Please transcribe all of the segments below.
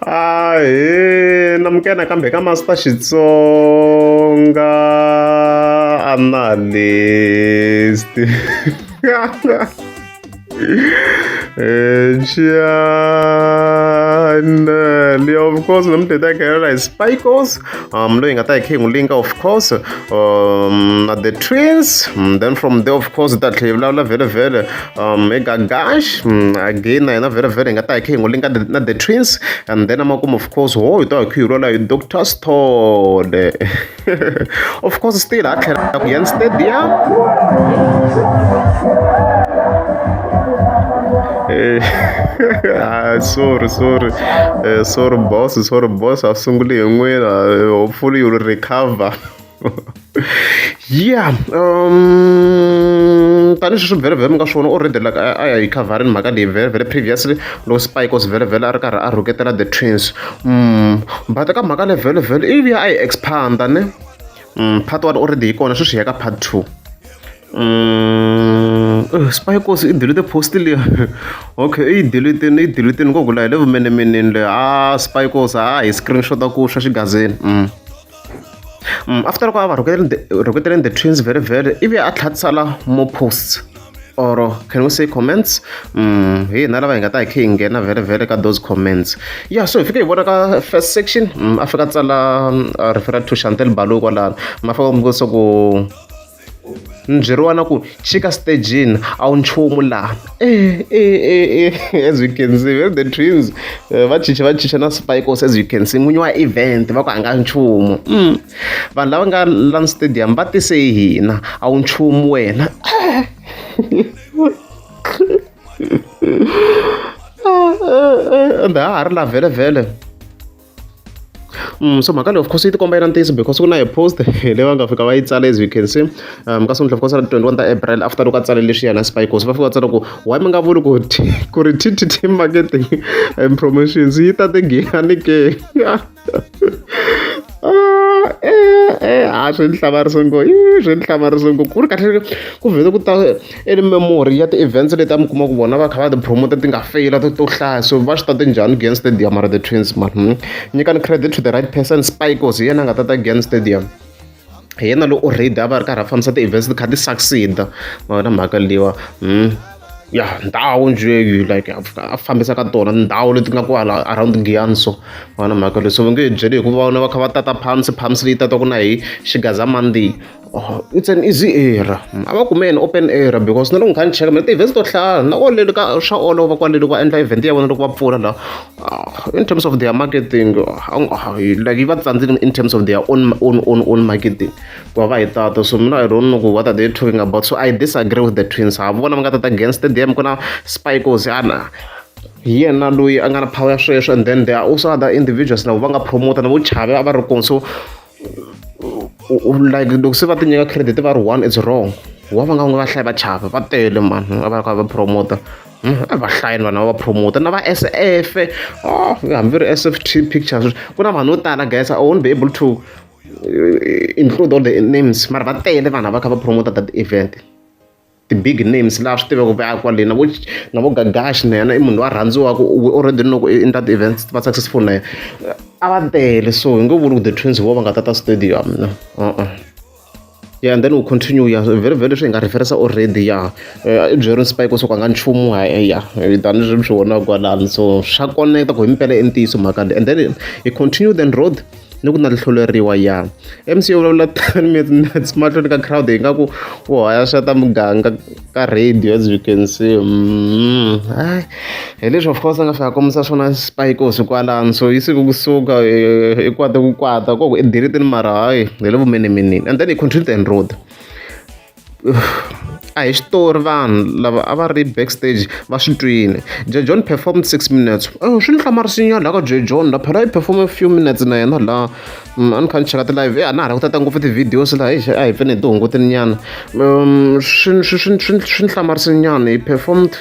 ahe namukela nakambe ka master xitsonga analyst channel eh, of course nomdeda gayela hi spikos um loyi nga ta hi khe hi n'wi linka of course um na the twins mm, then from there of course ta tlhe hi vulavula vhele vhele um hi gagash mm, again na yena very very hi nga ta hi kha hi n'wi linka the- na the twins and then amakumu of course ho hi ta hi kha hi rhwala hi dr stod of course still ha tlhela ku yan stadium Eh, ah, sorry sorry Eh, sorry boss sorry boss a sunguli hi n'wina Eh, hopefully you'll recover ya um tanihi sweswi vhele vhele mi nga swi vona already like a ya hi khavharini mhaka leyi vhele vhele previously loko spike os vhele vhele a ri karhi a rhuketela the twins um but ka mhaka le vhele vhele ivi ya a yi expanda ne um part one already yi kona sweswi hi ya ka part two um eh, spikos i delete post leya okay i delitini i delitini ko vula hi le vumenemeneni leyi a ah, spikos a ah, hi screenshota ku swa xigazini um mm. um after loko a va rhuketele the twins very very ivi a tlhela tsala more posts or can we say comments um hi hina lava hi nga ta hi khe hi nghena very very ka those comments ya so hi fike hi vona ka first section um a fika a tsala referral to chantel balo kwalano ma fika mi ku ni byeriwa na ku chika stejini a wu nchumu laha e e e e as you can see where the twins eh, va chicha va chicha na spikos as you can see n'winyi wa event va ku a nga nchumu mm. vanhu lava nga lan stadium va tise hina a wu nchumu wena and ha ha ri la vhele vhele Mm, so mhaka leyi of course yi tikomba yi ri ntiyiso because ku na hi post leyi va nga fika va yi tsala as you can see um ka sungula of course ra twenty one ta april after loko a tsale lexi yena spikos va fika va tsala ku why mi nga vuli ku ku ri ttt marketing and promotions yi ta tigiyani ke ah, eh, eh, a swi ni hlamarisa ngo i swi ni hlamarisa ngo ku ri kahle ku vhele ku ta I ri memory ya ti-events leti a mi kuma ku vona va kha va ti-promoter ti nga feyila to to hlaya so va swi tate njhani ku Giyani Stadium mara the Twins mara nyikani credit to the right person Spike was hi yena a nga tata Giyani Stadium hi yena loyi already a va ri karhi a fambisa ti-events ti kha ti succeed mavona mhaka liwa hmm. ya ndhawu njhe like a fambisa ka tona ndhawu leti nga kwala around Giyani so mavona mhaka leyi so va nge byeli hikuva vona va kha va tata phamsi phamsi leyi tataka na hi xigazamandi it's an easy error a va kume yini open error because na loko ni kha ni cheka mina ti-events to hlaya na kwaleni ka swa olova kwaleni va endla event ya vona loko va pfula la ah, in terms of their marketing ah, like yi va tsandzile in terms of their own own own own marketing ku va va hi tata so mina i don't know ku what are they talking about so i disagree with the twins ha vona va nga tata against them ku na spikos yana hi yena loyi a nga na power ya sweswo and then there are also other individuals lavo va nga promoter na vo chave a va ri kona so like loko se va ti nyika credit va ri one it's wrong wa va nga n'wi vahlayi va chava va tele mani va va ka va promoter hmm, a va hlayini vanhu va va promoter na va s f oh, hambi ri s f t pictures ku na vanhu vo tala guys i won't be able to eh, include all the names mara va tele vanhu va kha va promoter that event ti-big names laha swi tivaka ku a kwale na vo na vo Gagash na yena i munhu loyi a rhandziwaka u already loko i endla ti-events ti va successful na yena a va tele so hi nge vuli ku the twins vo va nga tata stadium no uh-uh yeah and then u continue ya vhele vhele leswi hi nga referensa already ya eh, i byeri spike so ka nga nchumu ha eh, ya tani swi swi vona kwalani so swa koneketa ku himpela i ntiyiso mhaka leyi and then i continue then road ni ku na hluleriwa ya MC yo vulavula ten minutes mahlweni ka crowd hi nga ku u hayaxa ta muganga ka radio as you can see mm, ay hi leswi of course a nga fika kombisa swona spikos kwalano so yi siku kusuka i kwata ku kwata koko i diritini mara hayi hi le vumenemenini and then i contribute and road a hi xitori vanhu lava a va ri backstage va swi twile je john performed six minutes oh, swi ni hlamarisinya laha ka je john la phela yi performe few minutes na yena laha mm, a ni kha ni cheka ti-live a na ha ri ku tata ngopfu ti-videos laha hi a hi pfene hi tihungutini nyana um, swi ni hlamarisinyana hi performed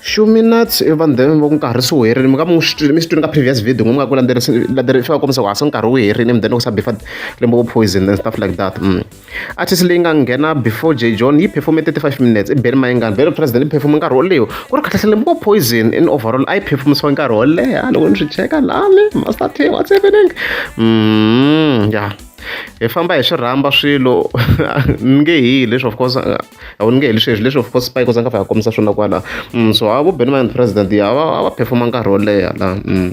few minutes vanhu then va ku nkarhi se wu herile mi ka mi mi swi twini ka previous video n'wi nga ku landzelerisa va kombisa ku a se nkarhi wu herile mi then loko sa bifa lembe ku poison and stuff like that mm. Artist leyi nga nghena before Jay John yi performe 35 minutes i Benny Mayengani. Benny President yi performe nkarhi wo leho ku ri khatlahlele mbo Poison in overall a yi performisiwa nkarhi wo leha loko ni swi cheka lani Master T what's happening mm, yeah hi famba hi swi rhamba swilo ni nge hi leswi of course a wu ni nge hi leswi hezwi leswi of course spike za nga fa ya kombisa swona kwala mm, so a vo Benny Mayengani President ya va va performa nkarhi wo leha la mm.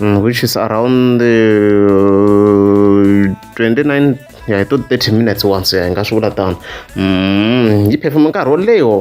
mm, which is around uh, 29 ya hi to 30 minutes once ya hi nga swi vula tano mm, yi performa nkarhi wo leho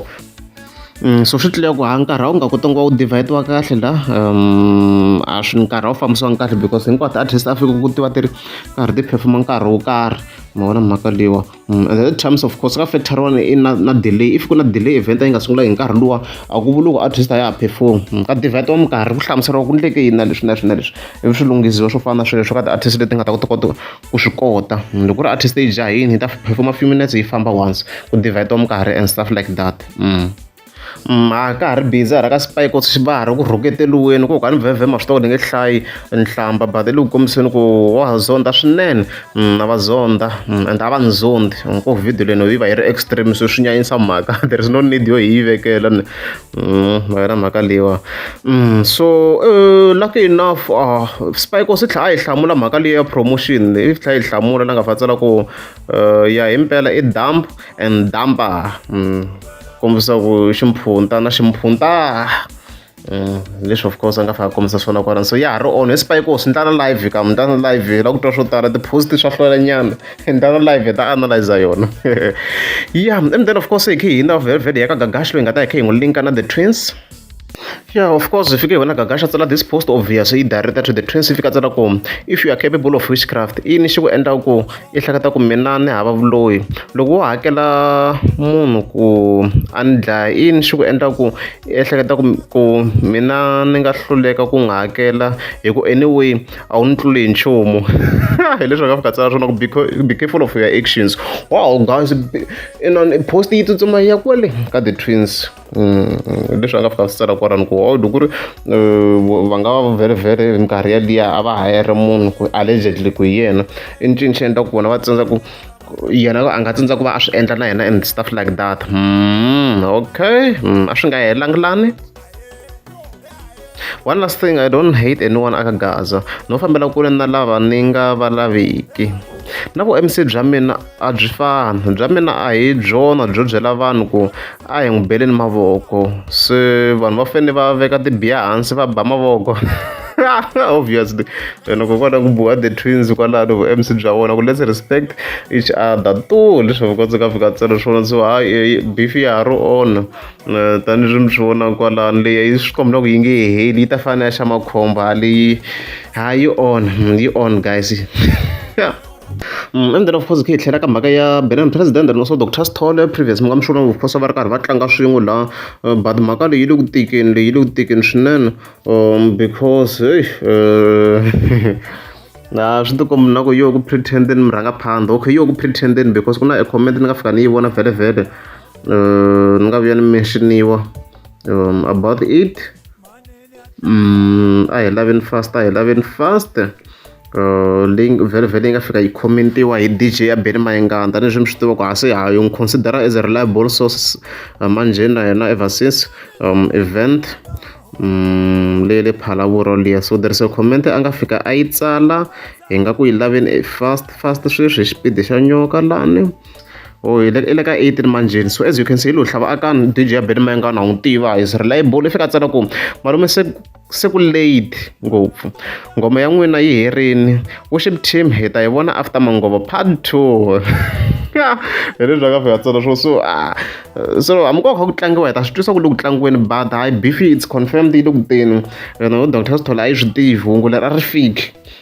mm, so swi tlula ku ha nkarhi a wu nga kotanga wa wu divide-wa kahle la um a swi nkarhi a wu fambisiwanga kahle because hinkwato artist a fika ku tiva ti ri karhi ti performa nkarhi wo karhi ma vona mhaka leyiwa Mm, and the terms of course ka fetron i na, na delay if ku na delay event yi nga sungula hi nkarhi luwa a ku vuli ku artist a ya ha perform mm, ka divert wa minkarhi ku hlamuseriwa ku ndleke yini na leswi na leswi na leswi ivi swi lunghisiwa swo fana na swilo swo ka ti-artist leti nga ta kota kota ku swi kota mm, loko ku ri artist yi jahini yi ta performa few minutes yi famba once ku divert wa minkarhi and stuff like that mm. a ka ha ri busy hala ka spy ku va ha ri ku rhuketeliweni ku ka ni vhevhema swi tiva ni nge hlayi nhlamba but le ku kombiseni ku wa ha zonda swinene na va zonda and a va ni zondi ku video leno yi va yi ri extreme so swi nyanyisa mhaka there is no need yo hi yi vekela ni ma yona mhaka leyiwa so lucky enough spy ko swi tlhela a yi hlamula mhaka leyi ya promotion yi tlhela yi hlamula la nga fa tsala ku ya himpela i dump and dumper mm, kombisa ku ximpfunta na ximpfunta mm, leswi of course a nga faka kombisa swona kwalani so ya ha ri on espiko swi ndlana live ka mi ndlana live la ku twa swo tala ti-post swa hlwelanyana ndlana live hi ta analyza yona ya and then of course hi khe hina vhele vhele ya ka gagashi loyi nga ta hi khe hi n'wi linka na the twins Yeah, of course, if you give a gagasha tsala this post obvious yi director to the twins fika tsala ku if you are capable of witchcraft i ni xi ku endla ku i hlakata ku mina ni hava vuloyi loko wo hakela munhu ku a ni dlaya i ni xi ku endla ku i ehleketa ku ku mina ni nga hluleka ku nga hakela hi ku anyway a wu ni tluli hi nchumu hi leswi nga fika tsala swona ku be careful of your actions wow guys post yi tsutsuma ya kwale ka the twins leswi a nga fika a swi tsala kwalano ku or loko ku ri va nga va very very minkarhi yaliya a va hayere munhu ku allegedly ku hi yena i ncini xi endla ku vona va tsandza ku yena a nga tsandza ku va a swi endla na yena and stuff like that okay a swi nga helangi lani one last thing i don't hate anyone aka gaza no fambela kule na lava ni nga va laviki na ku mc bya mina a byi fana bya mina a hi byona byo byela vanhu ku a hi n'wi beleni mavoko se vanhu va fanele va veka tibiya hansi va ba mavoko obviously wena ku kota ku buwa the twins kwalano vu mc bya vona ku let's respect each other to leswi vukotsi ka fika tselo swona so hayi beef ya ha ri ona tanihileswi mi swi vonaka kwalano leyi yi swi komba ku yi nge heli yi ta fana ya xa makhomba leyi ha yi on yi on guys endzeni mm, of course khe hi tlhela ka mhaka ya benin president and also dr stole previous mi nga mi swona of course va ri karhi va tlanga swin'we la eh, but mhaka leyi yi le ku tikeni leyi yi le ku tikeni swinene um because hey eh, a swi tikombi na ku yo ku pretendeni mi rhanga phanda okay yo ku pretendeni because ku na e comment ni nga fika ni yi vona vhele vhele uh, ni nga vuya ni menxioniwa um, about it um, a hi laveni fast a hi laveni fast uh, leyi vhele vhele yi nga fika yi commentiwa hi dj ya beni mayingana tanihileswi mi swi tiva ku ha se ha yi n'wi considera as a reliable source uh, manjheni na yena ever since um, event Mm, le le phalavuro liya so there is a comment a nga fika a yi tsala hi nga ku yi laveni fast fast sweswi hi xipidi xa nyoka lani Oh, i le ka 18 manjheni so as you can see lo hlava aka dj ya beni mayengana n'wi tiva is reliable i fika tsala ku malume se se ku late ngopfu ngoma ya n'wina yi herini worship team hi ta yi vona after mangovo part two hi leswi a ka fika tsona swo so ah, so hamukova kha ku tlangiwa hi ta swi twisa ku le ku tlangiweni but hayi beef it's confirmed yi le ku teni yona doctor sithola a yi swi tivi hungu leri a ri fiki